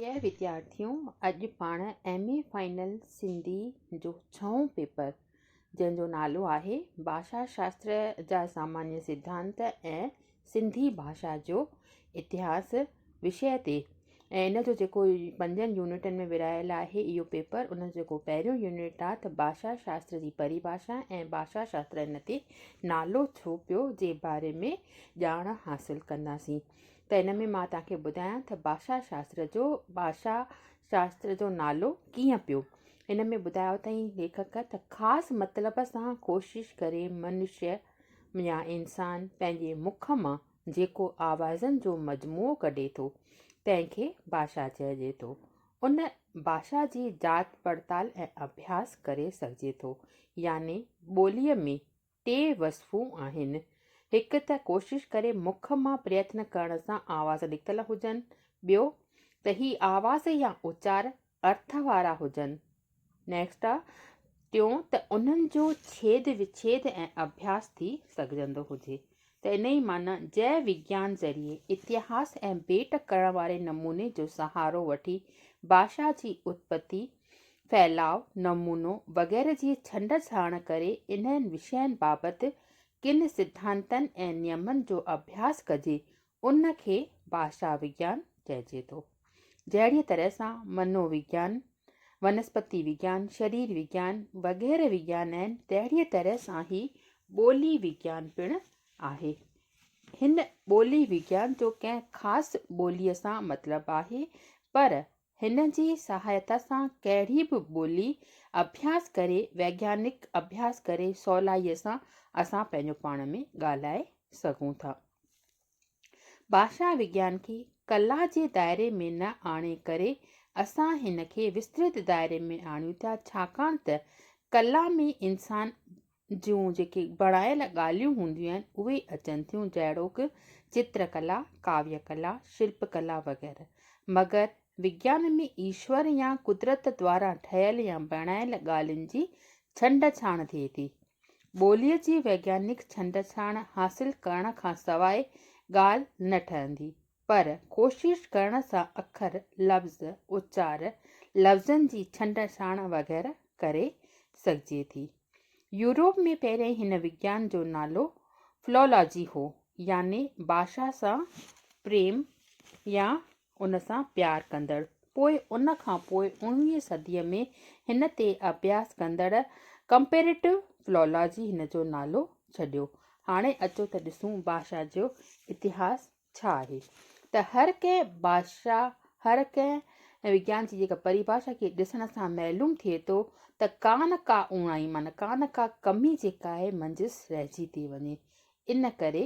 اهي وديارٿيون اڄ پاڻ ايم اي فائنل سنڌي جو ڇهون پيپر جنهن جو نالو آهي ڀاشا شاستر جا سامانيه سڌانت ۽ سنڌي ڀاشا جو اتهاس وشي تي ۽ ان جو جيڪو پنجن يونٽن ۾ ورهايل آهي اهو پيپر ان جو جيڪو پهريون يونٽ آهي ته ڀاشا شاستر جي پريڀاشا ۽ ڀاشا شاستر ان تي نالو ڇو پيو جي باري ۾ ڄاڻ حاصل ڪنداسين ته ان ۾ مان توهان کي ٻڌايان ته ڀاشا شاستر جو ڀاشا شاستر جو نالو ڪيئن پيو. هن ۾ ٻڌايو اٿائين ليکڪ ته خاص مطلب سان ڪوشش ڪري منشيه يا انسان پنهنجي مک مان جيڪو آوازن جو مجموعو ڪڍي ٿو تنهن کي ڀاشا چئجي ٿو. ان ڀاشا جي جاچ پڙتال ۽ اڀياس ڪري سگهجي ٿو يعني ٻوليء ۾ ٽي وصفون آهن، هڪ ته ڪوشش ڪري مک مان پريتن ڪرڻ سان آواز نڪتل هجن، ٻيو ته هي آواز يا اچار ارٿ وارا هجن، Next، ٽيون ته انهن جو ڇيد وڇيد ۽ اڀياس ٿي سگهجندو هجي، ته انهيء معنيٰ جئه وگيان ذريعي اتهاس ۽ ڀيٽ ڪرڻ واري نموني جو سهارو وٺي ڀاشا جي اتپتي، ڦهلاء، نمونو وغيره جي ڇنڊ ڇاڻ ڪري انهن وشين بابت ڪن سڌانتن ۽ نيمن جو اڀياس ڪجي، ان کي ڀاشا وگيان چئجي ٿو. جهڙيء طرح سان منو وگيان، ونسپتي وگيان، شرير وگيان وغيره وگيان آهن، تهڙيء طرح سان هي ٻولي وگيان پڻ آهي. هن ٻولي وگيان جو ڪنهن خاص ٻوليء سان مطلب آهي، پر هن جي سهائتا سان ڪهڙي به ٻولي اڀياس ڪري، ويگيانڪ اڀياس ڪري سولائيء سان اسان پنهنجو پاڻ ۾ ڳالهائي سگهون ٿا. ڀاشا وگيان کي ڪلا جي دائري ۾ نه آڻي ڪري اسان هن کي وسترت دائري ۾ آڻيون ٿا ڇاڪاڻ ته ڪلا ۾ انسان جون جيڪي بڻايل ڳالهيون هونديون آهن اهي اچن ٿيون جهڙوڪ چتر ڪلا، ڪاويه ڪلا، شلپ ڪلا وغيره مگر وگيان ۾ ايشور يا قدرت دواران ٺهيل يا بڻايل ڳالهين جي ڇنڊ ڇاڻ ٿئي ٿي. ٻوليء جي ويگيانڪ ڇنڊڇاڻ حاصل ڪرڻ کان سواء ڳالهه نه ٺهندي، پر ڪوشش ڪرڻ سان اکر، لفظ، اچار، لفظن جي ڇنڊڇاڻ وغيره ڪري سگهجي ٿي. يوروپ ۾ پهرين هن وگيان جو نالو Philology هو، يعني ڀاشا سان پريم يا ان سان پيار ڪندڙ پوء ان کان پوء اڻويهين صديء ۾ هن تي اڀياس ڪندڙ ڪمپيريٽو فلالاجي هن جو نالو ڇڏيو. هاڻي اچو ته ڏسون بادشاهه جو اتهاس ڇا آهي ته هر ڪنهن بادشاهه هر ڪنهن وگيان جي جيڪا پريڀاشا کي ڏسڻ سان معلوم ٿئي ٿو ته ڪا نه ڪا اوڻائي معنيٰ ڪا نه ڪا ڪمي جيڪا آهي منجهس رهجي ٿي وڃي ان ڪري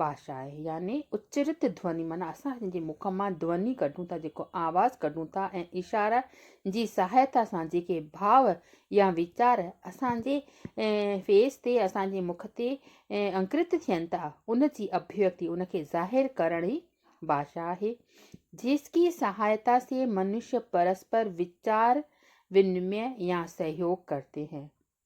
باشا آهي يعني اچرت ڌوني معنيٰ اسان جنهنجي مک مان ڌوني ڪڍون ٿا جيڪو آواز ڪڍون ٿا ۽ اشاره جي سهائتا سان جيڪي ڀاء يا ويچار اسان جي فيس تي اسان جي مک تي انڪرت ٿين ٿا ان جي اڀيوڪتي ان کي ظاهر ڪرڻ ئي باشا آهي جس ڪي سهائتا سي منش پرسپر ويچار ونمي يا سهيوگ ڪرتي هين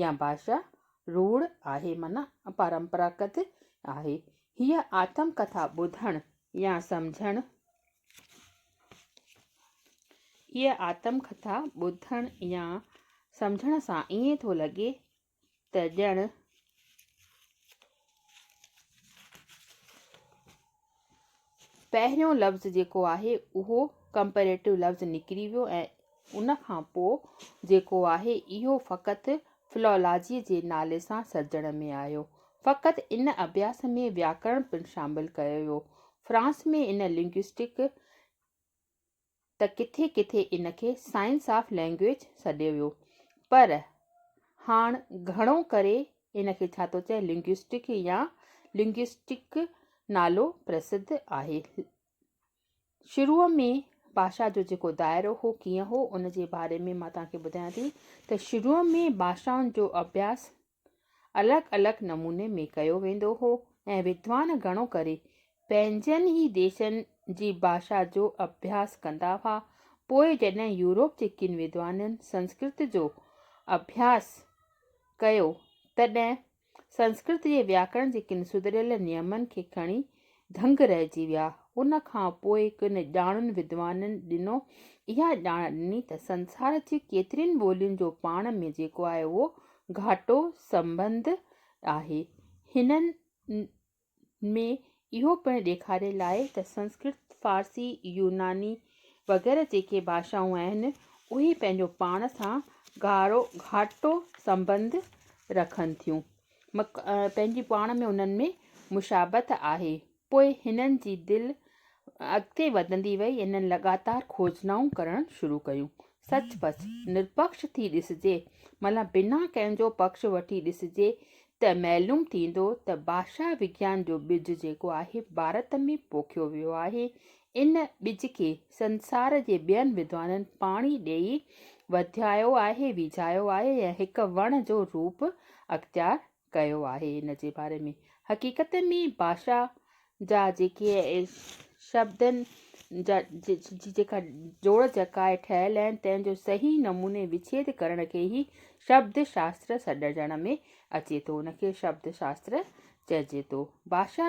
يا ڀاشا روڙ آهي معنيٰ اپرمپراگت آهي. هيء آتم ڪٿا ٻڌڻ يا سمجهڻ هيء آتم ڪٿا ٻڌڻ يا سمجهڻ سان ائين ٿو لڳي ته ڄڻ پهريون لفظ جيڪو آهي اهو ڪمپيريٽو لفظ نڪري ويو ۽ ان کان پوء جيڪو آهي اهو فقط فلولاجيء جي نالي سان سرجڻ ۾ آيو. فقط ان اڀياس ۾ وياڪرڻ پڻ شامل ڪيو ويو. فرانس ۾ ان لنگوئسٽڪ ته ڪٿي ڪٿي ان کي سائنس آف لئنگئيج سڏيو ويو پر هاڻ گهڻو ڪري ان کي ڇا ٿو چئي لنگوسٽڪ يا لنگوسٽڪ نالو پرسڌ آهي. شروع ۾ باشا جو جيڪو دائرو هو ڪيئن هو ان جي باري ۾ مان توهان کي ٻڌايان ٿي ته شروع ۾ باشائن جو اڀياس الڳ الڳ نموني ۾ ڪيو ويندو هو ۽ ودوان گهڻو ڪري پنهنجن ئي ديسن جي ڀاشا جو اڀياس ڪندا هئا. پوء جڏهن يورپ جي ڪن ودوانن سنسڪرت جو اڀياس ڪيو تڏهن سنسڪرت جي وياڪرڻ جي ڪن سڌريل نيمن کي کڻي دنگ رهجي ويا. ان کان پوء ڪن ڄاڻن ودوانن ڏنو اها ڄاڻ ڏني ته سنسار جي ڪيترين ٻولين جو پاڻ ۾ جيڪو آهي اهو گهاٽو سنٻنڌ آهي. هنن ۾ اهو پڻ ڏيکاريل آهي ته سنسڪرت، فارسي، يوناني وغيره جيڪي ڀاشائون آهن اهي پنهنجو پاڻ سان گهاٽو سنٻنڌ رکن ٿيون. پنهنجي پاڻ ۾ انهن ۾ مشابهت آهي. پوء هنن جي دل اڳتي وڌندي وئي ۽ هنن لڳاتار کوجنائون ڪرڻ شروع ڪيون. سچ پچ، نرپڪش ٿي ڏسجي، معنيٰ بنا ڪنهن جو پڪش وٺي ڏسجي ته معلوم ٿيندو ته ڀاشا وگيان جو ٻج جيڪو آهي ڀارت ۾ پوکيو ويو آهي ان ٻج کي سنسار جي ٻين وڌوانن پاڻي ڏيئي وڌايو آهي، ويجهايو آهي ۽ هڪ وڻ جو روپ اختيار ڪيو آهي. ان جي باري ۾ حقيقت ۾ ڀاشا جا جيڪي شبدن جي جيڪا جوڙ جڪائي ٺهيل آهن، تنهن جو صحيح نموني وڇيد ڪرڻ کي ئي شبد شاستر سڏجڻ ۾ اچي ٿو. ان کي شبد شاستر چئجي ٿو. ڀاشا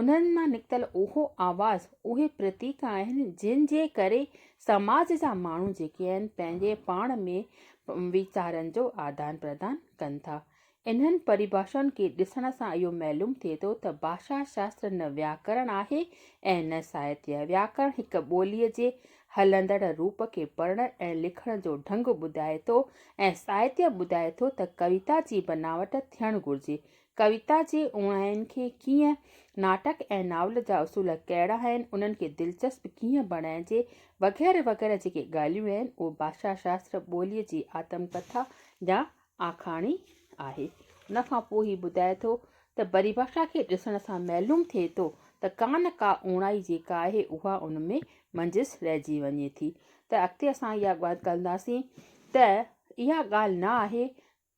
انهن مان نڪتل اهو آواز، اهي پرتيڪ آهن، جن جي ڪري سماج جا ماڻهو جيڪي آهن، پنهنجي پاڻ ۾ ويچارن جو آدان پردان ڪن ٿا. انهن پريڀاشائن کي ڏسڻ سان اهو معلوم ٿئي ٿو ته ڀاشا شاستر نه وياڪرڻ آهي ۽ نه ساهتيه. وياڪرڻ هڪ ٻوليء جي هلندڙ روپ کي پڙهڻ ۽ لکڻ جو ڍنگ ٻڌائي ٿو ۽ ساهتيه ٻڌائي ٿو ته ڪويتا جي بناوٽ ٿيڻ گهرجي، ڪويتا جي اوڻاين کي ڪيئن، ناٽڪ ۽ ناول جا اصول ڪهڙا آهن، انهن کي دلچسپ ڪيئن بڻائجي، وغيره وغيره جيڪي ڳالهيون آهن، اهو ڀاشا شاستر ٻوليء جي آتم ڪٿا يا آکاڻي آهي. ان کان پوء هي ٻڌائي ٿو ته پريڀاشا کي ڏسڻ سان معلوم ٿئي ٿو ته ڪا نه ڪا اوڻائي جيڪا آهي اها ان ۾ منجهس رهجي وڃي ٿي ته اڳتي اسان اها ڳالهه ڪنداسين ته اها ڳالهه نه آهي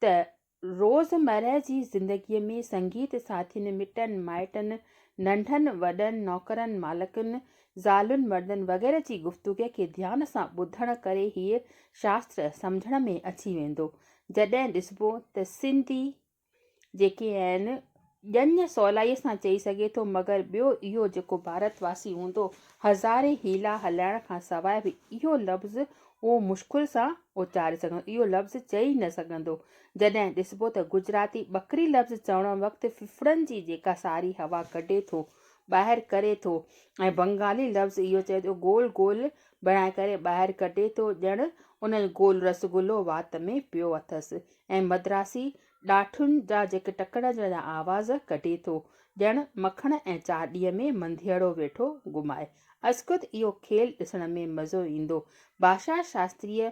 ته روزمرهه جي زندگيء ۾ سنگيت ساٿين، مٽن مائٽن، ننڍن وڏن، نوڪرن مالڪن، زالن مردن وغيره جي گفتگوء کي ڌيان سان ٻڌڻ ڪري هيء شاستر سمجهڻ ۾ اچي ويندو. جڏهن ڏسبو ته سنڌي جيڪي آهن، ڄڃ سولائيء سان چئي سگهي ٿو، مگر ٻيو اهو جيڪو ڀارت واسي هوندو، هزارين حيلا هلائڻ کان سواء به اهو لفظ اهو مشڪل سان اچاري سگهندو، اهو لفظ چئي نه سگهندو. جڏهن ڏسبو ته گجراتي ٻڪري لفظ چوڻ وقت ڦڦڙن جي جيڪا ساري هوا ڪڍي ٿو، ٻاهر ڪري ٿو ۽ بنگالي لفظ اهو چئي ٿو گول گول بڻائي ڪري ٻاهر ڪڍي ٿو، ڄڻ ان جو گول رسگلو وات ۾ پيو اٿس ۽ مدراسي ڏاٺن جا جيڪي ٽڪڙ جا آواز ڪڍي ٿو، ڄڻ مکڻ ۽ چاڏيء ۾ منڌيئڙو ويٺو گهمائي. ازخود اهو کيل ڏسڻ ۾ مزو ايندو. ڀاشا شاستريء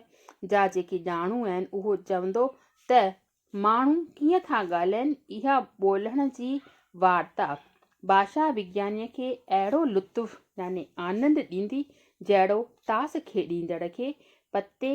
جا جيڪي ڄاڻو آهن، اهو چوندو ته ماڻهو ڪيئن ٿا ڳالهائين، اها ٻولڻ جي وارتا، ڀاشا وگيانيء کي اهڙو لطف يعني آنند ڏيندي، جهڙو تاس کيڏيندڙ کي پتي